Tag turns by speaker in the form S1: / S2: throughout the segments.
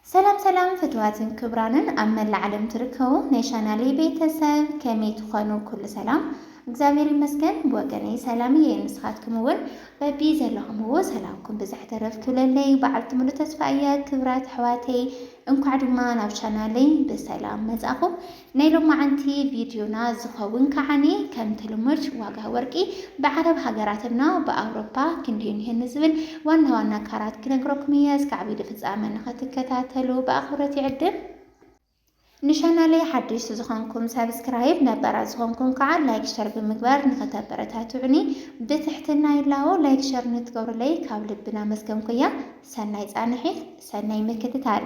S1: ሰላም ሰላም ፍትዋትን ክብራንን ኣብ መላእ ዓለም ትርከቡ ናይ ቻናለይ ቤተሰብ ከመይ ትኾኑ? ኩሉ ሰላም እግዚኣብሔር ይመስገን ብወገነይ ሰላም እየ። ንስኻትኩም እውን በቢ ዘለኹምዎ ሰላምኩም ብዝሕ ተረፍ ክብለለይ በዓልቲ ሙሉ ተስፋ እየ። ክብራት ኣሕዋተይ እንኳዕ ድማ ናብ ቻናለይ ብሰላም መጻኹም። ናይ ሎማዓንቲ ቪድዮና ዝኸውን ከዓኒ ከምቲ ልሙድ ዋጋ ወርቂ ብዓረብ ሃገራት እና ብኣውሮፓ ክንደይ ኒሀ ንዝብል ዋና ዋና ካራት ክነግረኩም እየ እስካዕ ቪድዮ ፍጻመ ንክትከታተሉ ብኣኽብሮት ይዕድም። ንቻናለይ ሓደሽቲ ዝኾንኩም ሳብስክራይብ ነባራት ዝኾንኩም ከዓ ላይክ ሸር ብምግባር ንክተበረታትዑኒ ብትሕትና ይላቦ ላይክ ሸር ንትገብሩለይ ካብ ልቢ ናመስገንኩ እያ ሰናይ ፃንሒት ሰናይ ምክትታል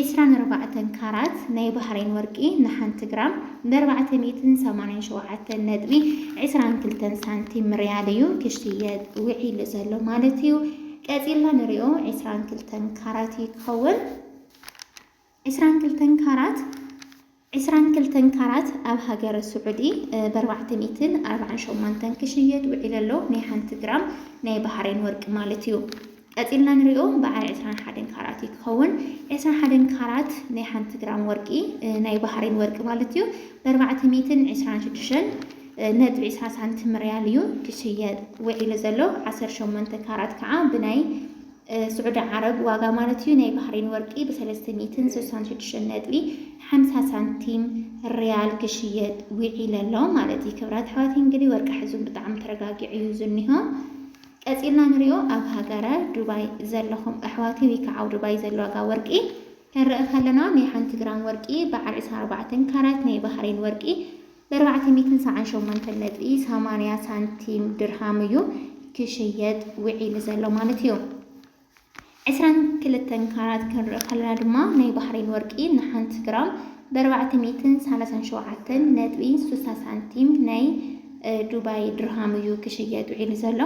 S1: ዒስራን ኣርባዕተን ካራት ናይ ባህረይን ወርቂ ንሓንቲ ግራም ብ ኣርባዕተ ሚእትን ሰማንያን ሸውዓተን ነጥቢ ዕስራን ክልተን ሳንቲም ርያል እዩ ክሽየጥ ውዒሉ ዘሎ ማለት እዩ። ቀጺልና ንሪኦ ዒስራን ክልተን ካራት እዩ ክኸውን። ዒስራን ክልተን ካራት። ዕስራን ክልተን ካራት ኣብ ሃገረ ስዑዲ ብ ኣርባዕተ ሚእትን ኣርባዓን ሸሞንተን ክሽየጥ ውዒሉ ኣሎ፣ ናይ ሓንቲ ግራም ናይ ባህሬን ወርቂ ማለት እዩ። ቀጺልና ንሪኦ በዓል ዕስራን ሓደን ካራት እዩ ክኸውን። ዕስራን ሓደን ካራት ናይ ሓንቲ ግራም ወርቂ፣ ናይ ባህሬን ወርቂ ማለት እዩ፣ ብ ኣርባዕተ ሚእትን ዕስራን ሽዱሽተን ነጥቢ ዕስራ ሳንቲም ሪያል እዩ ክሽየጥ ውዒሉ ዘሎ። ዓሰርተ ሸሞንተ ካራት ከኣ ብናይ። ስዑዲ ዓረብ ዋጋ ማለት እዩ ናይ ባህሬን ወርቂ ብሰለስተ ሚእትን ስሳን ሽዱሽተን ነጥቢ ሓምሳ ሳንቲም ሪያል ክሽየጥ ዊዒለ ኣሎ ማለት እዩ። ክብራት ኣሕዋት እንግዲህ ወርቂ ሕዙን ብጣዕሚ ተረጋጊዑ እዩ ዝኒሆ። ቀጺልና ንሪኦ ኣብ ሃገረ ዱባይ ዘለኹም ኣሕዋተይ ወይ ከዓ ኣብ ዱባይ ዘሎ ዋጋ ወርቂ ክንርኢ ከለና ናይ ሓንቲ ግራም ወርቂ በዓል ዕስራን ኣርባዕተን ካራት ናይ ባህሬን ወርቂ በርባዕተ ሚትን ሰዓን ሸሞንተን ነጥቢ ሰማንያ ሳንቲም ድርሃም እዩ ክሽየጥ ውዒሉ ዘሎ ማለት እዩ። ዕስራን ክልተን ካራት ክንርኢ ከለና ድማ ናይ ባሕሬን ወርቂ ንሓንቲ ግራም በርባዕተ ሚትን ሰላሳን ሸውዓተን ነጥቢ ስሳ ሳንቲም ናይ ዱባይ ድርሃም እዩ ክሽየጥ ውዒሉ ዘሎ።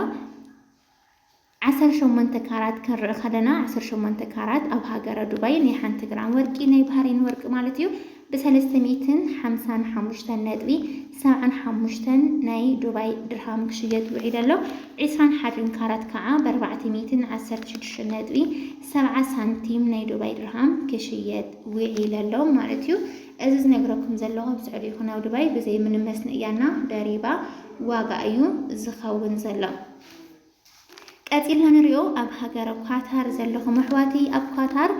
S1: ዓሰርተ ሸሞንተ ካራት ክንርኢ ከለና ዓሰርተ ሸሞንተ ካራት ኣብ ሃገረ ዱባይ ናይ ሓንቲ ግራም ወርቂ ናይ ባህሬን ወርቂ ማለት እዩ ብሰለስተ ሚእትን ሓምሳን ሓሙሽተን ነጥቢ ሰብዓን ሓሙሽተን ናይ ዱባይ ድርሃም ክሽየጥ ውዒሉ ኣሎ። ዕስራን ሓድን ካራት ከዓ ብኣርባዕተ ሚእትን ዓሰርተ ሽዱሽተን ነጥቢ ሰብዓ ሳንቲም ናይ ዱባይ ድርሃም ክሽየጥ ውዒሉ ኣሎ ማለት እዩ። እዚ ዝነግረኩም ዘለኹ ኣብ ስዑዲ ይኹን ኣብ ዱባይ ብዘይ ምንም መስንእያና ደሪባ ዋጋ እዩ ዝኸውን ዘሎ። ቀጺልና ንሪኦ ኣብ ሃገረ ኳታር ዘለኹም ኣሕዋተይ ኣብ ኳታር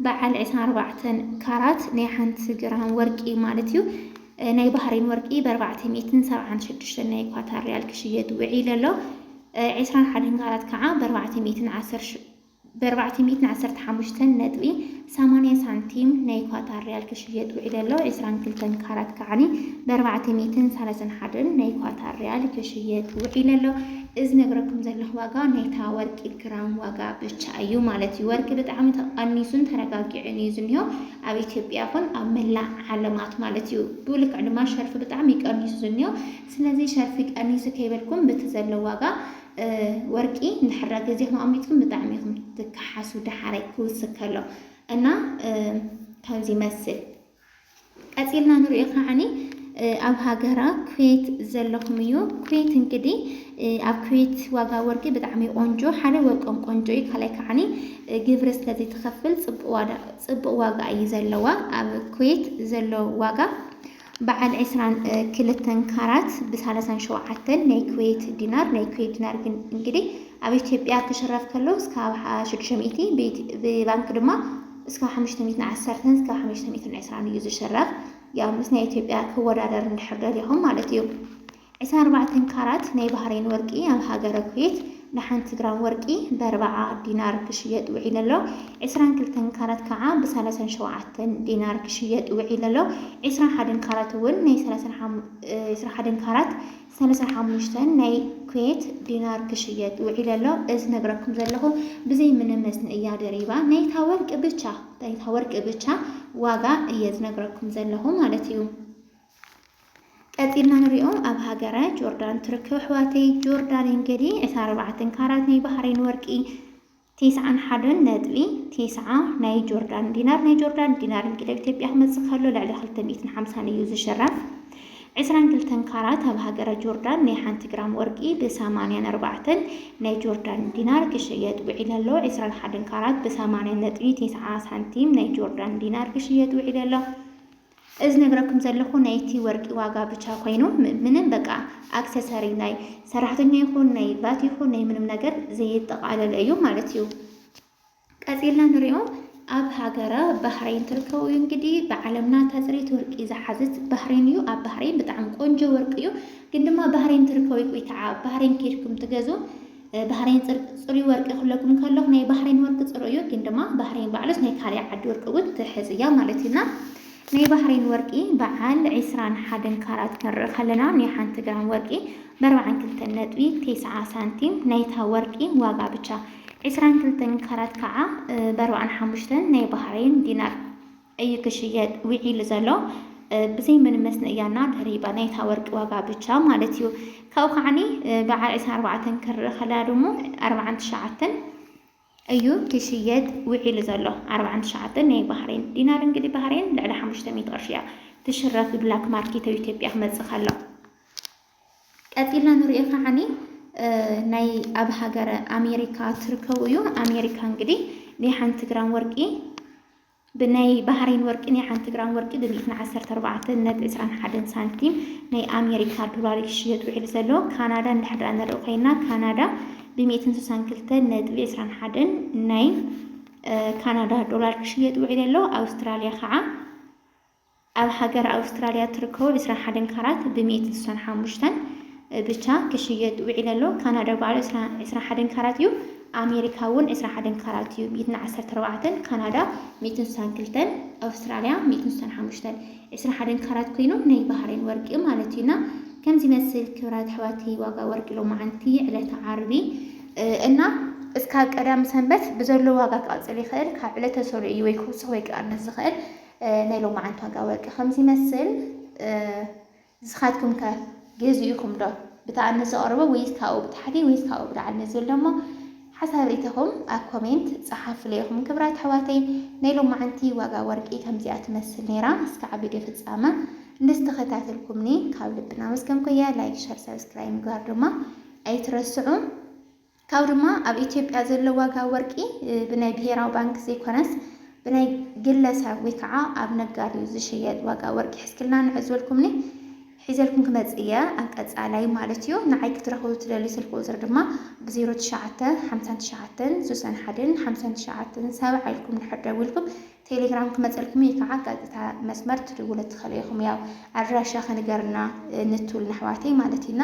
S1: በዓል ዕስራን ኣርባዕተን ካራት ናይ ሓንቲ ግራም ወርቂ ማለት እዩ ናይ ባህሬን ወርቂ በርባዕተ ሚእትን ሰብዓን ሽዱሽተን ናይ ኳታር ሪያል ክሽየጥ ውዒሉ ኣሎ ዕስራን ሓደን ካራት ከዓ በርባዕተ ሚእትን ዓሰርተ ብኣርባዕተ ሚእትን ዓሰርተ ሓሙሽተን ነጥቢ ሰማንያ ሳንቲም ናይ ኳታር ሪያል ክሽየጥ ውዒሉ ኣሎ። ዕስራን ክልተን ካራት ከዓኒ ብኣርባዕተ ሚእትን ሰላሳን ሓደን ናይ ኳታር ሪያል ክሽየጥ ውዒሉ ኣሎ። እዚ ዝነግረኩም ዘለኹ ዋጋ ናይታ ወርቂ ግራም ዋጋ ብቻ እዩ ማለት እዩ። ወርቂ ብጣዕሚ ተቐኒሱን ተረጋጊዑን እዩ ዝኒሆ ኣብ ኢትዮጵያ ይኹን ኣብ መላእ ዓለማት ማለት እዩ። ብኡ ልክዕ ድማ ሸርፊ ብጣዕሚ ቀኒሱ ዝኒሆ ስለዚ ሸርፊ ቀኒሱ ከይበልኩም ብቲ ዘሎ ዋጋ ወርቂ ንድሕራ ገዜኹም ኣሚትኩም ብጣዕሚ ኢኹም ትከሓሱ ደሓራይ ክውስክ ከሎ እና ከምዚ ይመስል ቀፂልና ንሪኦ ከዓኒ ኣብ ሃገራ ኩዌት ዘለኹም እዩ። ኩዌት እንግዲህ ኣብ ኩዌት ዋጋ ወርቂ ብጣዕሚ ቆንጆ ሓደ ወርቆም ቆንጆ እዩ። ካልኣይ ከዓኒ ግብሪ ስለዚ ትኸፍል ፅቡቅ ዋጋ እዩ ዘለዋ ኣብ ኩዌት ዘሎ ዋጋ በዓል ዕስራን ክልተን ካራት ብ ሳላሳን ሸውዓተን ናይ ኩዌት ዲናር፣ ናይ ኩዌት ዲናር ግን እንግዲህ ኣብ ኢትዮጵያ ክሽረፍ ከሎ እስካብ ሽዱሽተ ሚእቲ ብባንክ ድማ እስካብ ሓሙሽተ ሚእትን ዓሰርተን እስካብ ሓሙሽተ ሚእትን ዕስራን እዩ ዝሽረፍ። ያው ምስ ናይ ኢትዮጵያ ክወዳደር እንድሕር ደሊኹም ማለት እዩ። ዕስራ ኣርባዕተ ካራት ናይ ባህሬን ወርቂ ኣብ ሃገረ ኩዌት ንሓንቲ ግራም ወርቂ በርብዓ ዲናር ክሽየጥ ውዒሉ ኣሎ። ዕስራን ክልተን ካራት ከኣ ብሳላሳን ሸውዓተን ዲናር ክሽየጥ ውዒሉ ኣሎ። ዕስራን ሓደን ካራት እውን ናይ ዕስራ ሓደን ካራት ሳላሳን ሓሙሽተን ናይ ኩዌት ዲናር ክሽየጥ ውዒሉ ኣሎ። እዚ ዝነግረኩም ዘለኹ ብዘይ ምንም መስንእያ ድሪባ ናይታ ወርቂ ብቻ ናይታ ወርቂ ብቻ ዋጋ እየ ዝነግረኩም ዘለኹ ማለት እዩ። ቀጺልና ንሪኦ ኣብ ሃገረ ጆርዳን ትርክብ ኣሕዋተይ ጆርዳን እንግዲ ዕስራ ኣርባዕተን ካራት ናይ ባሕሬን ወርቂ ቴስዓን ሓደን ነጥቢ ቴስዓ ናይ ጆርዳን ዲናር ናይ ጆርዳን ዲናር እንግዲ ኣብ ኢትዮጵያ ክመጽእ ከሎ ልዕሊ ክልተ ሚእትን ሓምሳን እዩ ዝሽረፍ ዕስራን ክልተን ካራት ኣብ ሃገረ ጆርዳን ናይ ሓንቲ ግራም ወርቂ ብሰማንያን ኣርባዕተን ናይ ጆርዳን ዲናር ክሽየጥ ውዒሉ ኣሎ። ዕስራን ሓደን ካራት ብሰማንያን ነጥቢ ቴስዓ ሳንቲም ናይ ጆርዳን ዲናር ክሽየጥ ውዒሉ ኣሎ። እዚ ዝነግረኩም ዘለኹ ናይቲ ወርቂ ዋጋ ብቻ ኮይኑ ምንም በቃ ኣክሰሰሪ ናይ ሰራሕተኛ ይኹን ናይ ቫት ይኹን ናይ ምንም ነገር ዘየጠቓለለ እዩ ማለት እዩ። ቀፂልና ንሪኦ ኣብ ሃገረ ባህሬን ትርከቡ እዩ እንግዲህ ብዓለምና ተፅሪት ወርቂ ዝሓዝት ባህሬን እዩ። ኣብ ባህሬን ብጣዕሚ ቆንጆ ወርቂ እዩ። ግን ድማ ባህሬን ትርከቡ ቆይታዓ ባህሬን ኬድኩም ትገዙ ባህሬን ጽርቅ ጽሩይ ወርቂ ክብለኩም ከለኩ ናይ ባህሬን ወርቂ ጽሩይ እዩ ግን ድማ ባህሬን ባዕሉስ ናይ ካልእ ዓዲ ወርቂ እውን ትሕዝ እያ ማለት እዩ እና ናይ ባህሬን ወርቂ በዓል ዒስራን ሓደን ካራት ክንርኢ ከለና ናይ ሓንቲ ግራም ወርቂ በርባዓን ክልተን ነጥቢ ቴስዓ ሳንቲም ናይታ ወርቂ ዋጋ ብቻ ዒስራን ክልተን ካራት ከዓ በርባዓን ሓሙሽተን ናይ ባህሬን ዲናር እዩ ክሽየጥ ዊዒሉ ዘሎ ብዘይ ምንም መስነእያና ድሪባ ናይታ ወርቂ ዋጋ ብቻ ማለት እዩ ካብኡ ከዓኒ በዓል ዕስራን ኣርባዕተን ክርኢ ከለና ድሞ ኣርባዓን ትሽዓተን እዩ ክሽየጥ ውዒሉ ዘሎ ኣርባዓን ትሽዓተን ናይ ባህሬን ዲናር እንግዲህ ባህሬን ልዕሊ ሓሙሽተ ሚእቲ ቅርሺ እያ ትሽረፍ ብላክ ማርኬት ኣብ ኢትዮጵያ ክመፅእ ከሎ ቀፂልና ንሪኦ ከዓኒ ናይ ኣብ ሃገረ ኣሜሪካ ትርከቡ እዩ ኣሜሪካ እንግዲህ ናይ ሓንቲ ግራም ወርቂ ብናይ ባህሬን ወርቂ ናይ ሓንቲ ግራም ወርቂ ብ ሚእትን ዓሰርተ ኣርባዕተን ነጥቢ ዕስራን ሓደን ሳንቲም ናይ ኣሜሪካ ዶላር እዩ ክሽየጥ ውዒሉ ዘሎ። ካናዳ እንድሕር ድኣ ንርኢ ኮይና ካናዳ ብ ሚእትን ስሳን ክልተን ነጥቢ ዕስራን ሓደን ናይ ካናዳ ዶላር ክሽየጥ ውዒሉ ኣሎ። ኣውስትራልያ ከዓ ኣብ ሃገረ ኣውስትራልያ እትርከቡ ዕስራን ሓደን ካራት ብሚእቲ ስሳን ሓሙሽተን ብቻ ክሽየጥ ውዒለ ኣሎ። ካናዳ ባዕሉ ዕስራን ሓደን ካራት እዩ። ኣሜሪካ እውን ዕስራን ሓደን ካራት እዩ። ሚእትን ዓሰርተ ኣርባዕተን ካናዳ ሚእትን ስሳን ክልተን ኣውስትራልያ ሚእትን ስሳን ሓሙሽተን ዕስራን ሓደን ካራት ኮይኑ ናይ ባህሬን ወርቂ እዩ ማለት እዩ እና ከምዚ ይመስል ክብራት ኣሕዋተይ ዋጋ ወርቂ ሎማዓንቲ ዕለተ ዓርቢ እና እስካብ ቀዳም ሰንበት ብዘሎ ዋጋ ክቐፅል ይኽእል ካብ ዕለተ ሰኑይ እዩ ወይ ክውስኽ ወይ ክቐንስ ዝኽእል ናይ ሎማዓንቲ ዋጋ ወርቂ ከምዚ ይመስል ንስኻትኩም ከ ገዚእኹም ዶ ብታኣኒ ዘቕርቦ ወይስ ካብኡ ብታሕቲ ወይስ ካብኡ ብላዕሊ ንዝብል ደሞ ሓሳብ ሪኢቶኹም ኣብ ኮሜንት ጸሓፉለይ ኢኹም ክብራት ኣሕዋተይ ናይ ሎማዓንቲ ዋጋ ወርቂ ከምዚኣ ትመስል ነይራ እስካዕ ቪድዮ ፍጻመ እንድስተኸታተልኩምኒ ካብ ልብና መስገንኩያ ላይክ ሸር ሰብስክራይብ ምግባር ድማ ኣይትረስዑ ካብኡ ድማ ኣብ ኢትዮጵያ ዘሎ ዋጋ ወርቂ ብናይ ብሄራዊ ባንኪ ዘይኮነስ ብናይ ግለሰብ ወይ ከዓ ኣብ ነጋዲ እዩ ዝሽየጥ። ዋጋ ወርቂ ሕዝክልና ንዑ ዝበልኩምኒ ሒዘልኩም ክመፅእ እየ ኣብ ቀፃላይ ማለት እዩ። ንዓይ ክትረኽቡ ትደልዩ ስልኪ ቁፅሪ ድማ ብ ዜሮ ትሽዓተ ሓምሳን ትሽዓተን ስሳን ሓደን ሓምሳን ትሽዓተን ሰብዓ ኢልኩም እንድሕር ደዊልኩም ቴሌግራም ክመፀልኩም እዩ ከዓ ቀጥታ መስመር ትድውሉ ትኽእሉ ኢኹም። ያው ኣድራሻ ከንገርና ንትብሉና ኣሕዋተይ ማለት እዩና